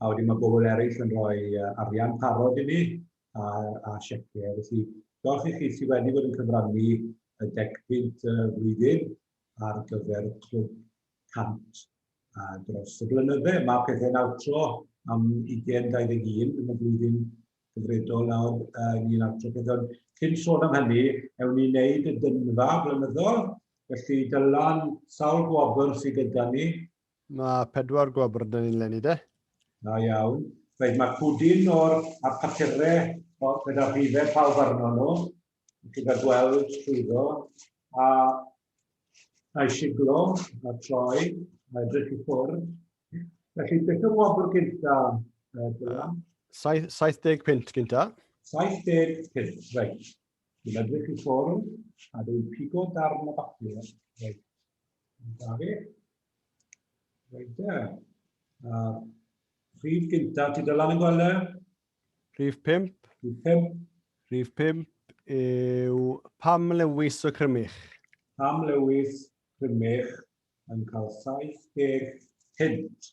a wedyn mae bobl eraill yn rhoi arian parod i ni a, a sieciau. Felly, diolch i chi sydd wedi bod yn cyfrannu y deg pint y flwyddyn ar gyfer y clwb 100 a dros y blynydde. Mae pethau'n awtro am 2021 yn y flwyddyn gyfredol nawr uh, ni'n awtro pethau. Cyn sôn am hynny, ewn ni wneud y dynfa flynyddol, felly dylan sawl gwobr sydd gyda ni Mae pedwar gwobr da ni'n lenni de. Da iawn. Reit, mae pwdin o'r a papure o gyda rhife pawb arno nhw, gyda gweld llwyddo a a'i siglo a troi a edrych i ffwrdd. Felly, beth yw'r wobr gynta, Dylan? 70 punt gynta. 70 punt, reit. Dwi'n edrych i ffwrdd a dwi'n pigo darn o bapur. Reit. Da fi. Reit e. A rhif gynta, ti dylan yn gweld e? Rhif 5. Rhif 5. Rhif 5 yw pam lewis o crymych? Pam lewis crymych yn cael 70 hint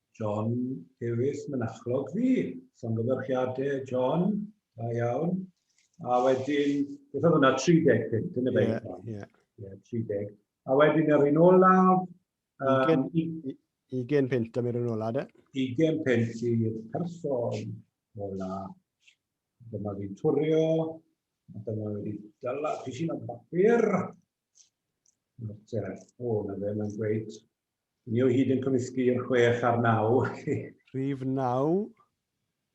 John Davies mynachlog fi. Llongyfarchiade John, da iawn. A wedyn, beth oedd hwnna, 35, dyna fe. Ie, ie. Ie, 30. A wedyn yr un olaf... Um, 20 pint am yr un olaf, de? 20 pint i'r person ola. Dyma fi'n twrio. Dyma wedi dyla pisyn o bapur. Nawr te, o, na fe, mae'n gweud Ni o hyd yn cymysgu i'r chwech a'r naw. Rhif naw.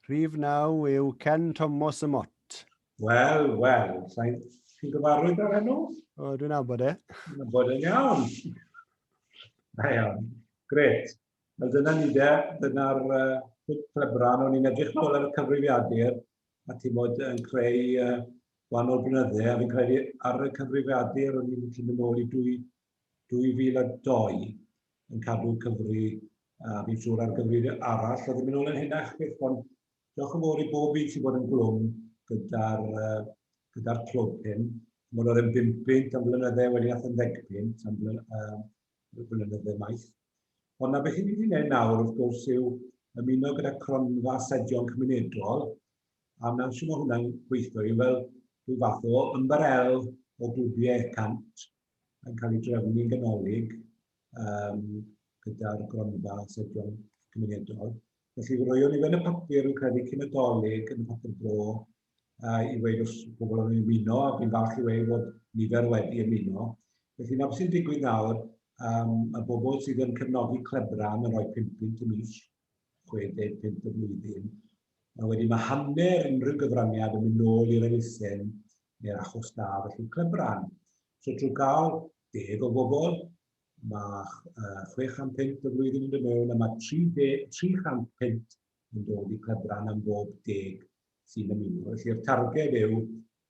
Rhif naw yw Ken Tomos y Mot. Wel, wel. Sain chi'n gyfarwydd â'r enw? O, dwi'n abod e. Dwi'n abod e'n iawn. Da iawn. Gret. Wel, dyna ni de. Dyna'r uh, plebran. O'n i'n edrych nôl ar y cyfrifiadur a ti'n bod yn creu uh, gwahanol blynydde, a fi'n credu ar y cyfrifiadur o'n i'n gallu mynd nôl i dwy, 2002 yn cadw cyfri a fi'n siŵr ar gyfri arall oedd yn mynd ôl yn hynach beth ond diolch yn fawr i bob un sy'n bod yn glwm gyda'r uh, gyda'r clwb hyn. Mae'n oedd yn 50 am flynyddau wedi ath yn ddegpynt am flynyddau maith. Ond na beth i ni wedi gwneud nawr wrth gwrs yw ymuno gyda cronfa sedion cymunedol, a mewn sy'n mae hwnna'n gweithio i fel rhyw fath o ymbarel o glwbiau cant yn cael ei drefnu'n ganolig um, gyda'r gronfa sedion cymunedol. Felly, roewn ni fe yn y papur yn credu cyn y dolyg yn y papur bro uh, i weid os pobl yn ymuno, a fi'n falch i weid bod nifer wedi ymuno. Felly, na beth sy'n digwydd nawr, um, y bobl sydd yn cefnogi clebra yn rhoi 50 y mis, 65 y flwyddyn, a wedyn mae hanner unrhyw gyfraniad yn mynd nôl i'r elusen neu'r achos da felly clybran. So trwy gael deg o bobl, mae uh, 600 pint y flwyddyn yn dod mewn a mae 300 pint yn dod i clybran am bob deg sy'n ymuno. Felly'r targed yw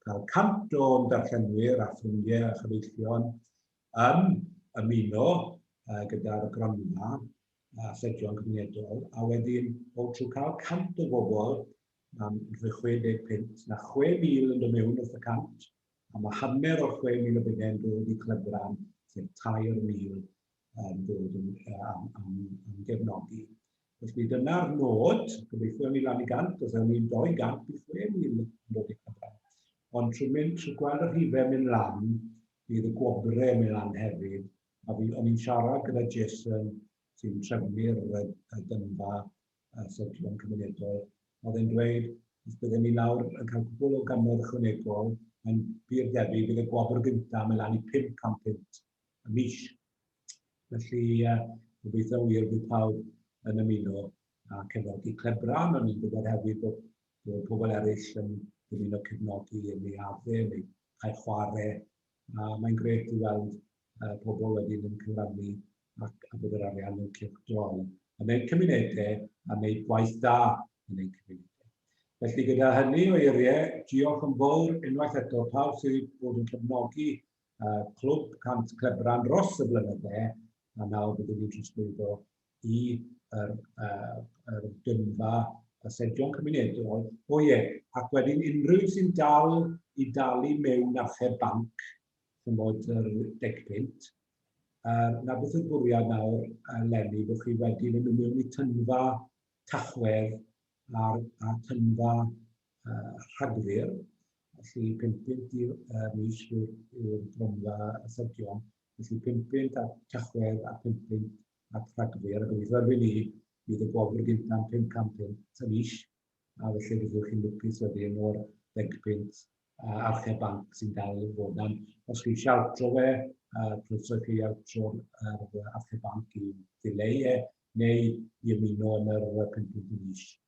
cael 100 o'n darllenwyr a ffrindiau a chyfeillion yn ymuno uh, gyda'r gronfa a Llegion Cymunedol, a wedyn o trwy cael 100 o bobl, am rhoi 60 punt, na 6,000 yn dod mewn wrth y 100, a mae hanner o'r 6,000 o bunnau yn dod i Clebran, sef 3,000 yn dod yn, am, am, am gefnogi. Felly dyna'r nod, gobeithio ni lan i gant, os ewn ni'n 200 i 6,000 yn dod i Clebran. Ond trwy mynd, trwy gweld y rhifau mynd lan, bydd y gwobrau yn mynd lan hefyd, A fi, o'n i'n siarad gyda Jason, sy'n trefnu'r y dynfa y syrclon cymunedol, oedd e'n dweud, os byddwn ni nawr yn cael cwbl o gannoedd ychwanegol, mae'n bur debyg bydd y gwobr gyntaf yn lan i 500 punt y mis. Felly, uh, gobeithio wir bydd pawb yn ymuno a cefnogi Clebran, ond ni'n gwybod hefyd bod, bod pobl eraill yn dymuno cefnogi yn ei adde neu cael chwarae A mae'n grêt i weld yy pobl wedyn yn cyfrannu ac a bod yr arian yn cylchdroi yn eu cymunedau a wneud gwaith da yn eu cymunedau. Felly gyda hynny o eiriau, diolch yn fawr unwaith eto pawb sydd wedi bod yn cefnogi yy Clwb Cant Clebran dros y blynydde a nawr byddwn ni'n trosglwyddo i yr, uh, yr gynfa y sedion cymunedol. O ie, ac wedyn unrhyw sy'n dal i dalu mewn athe banc, chymod yr deg pint, uh, na beth yw'r bwriad nawr uh, lenni, bod chi wedi mynd mewn i tynfa tachwedd a, a tynfa uh, rhagfyr, felly 5 pint i'r uh, mis yw'r gronfa y sedion, Felly, pum punt at Tachwedd a phum punt at Rhagfyr. A gobeithio erbyn ni bydd y gwobr gyntaf yn 500 punt y mis, a felly byddwch chi'n lwcus wedyn o'r ddeg punt uh, archeb banc sy'n dal i fod am. Os chi eisiau altro fe, uh, croeso chi altro'r uh, archeb banc i ddileu e, neu i ymuno yn yr 5 punt y mis.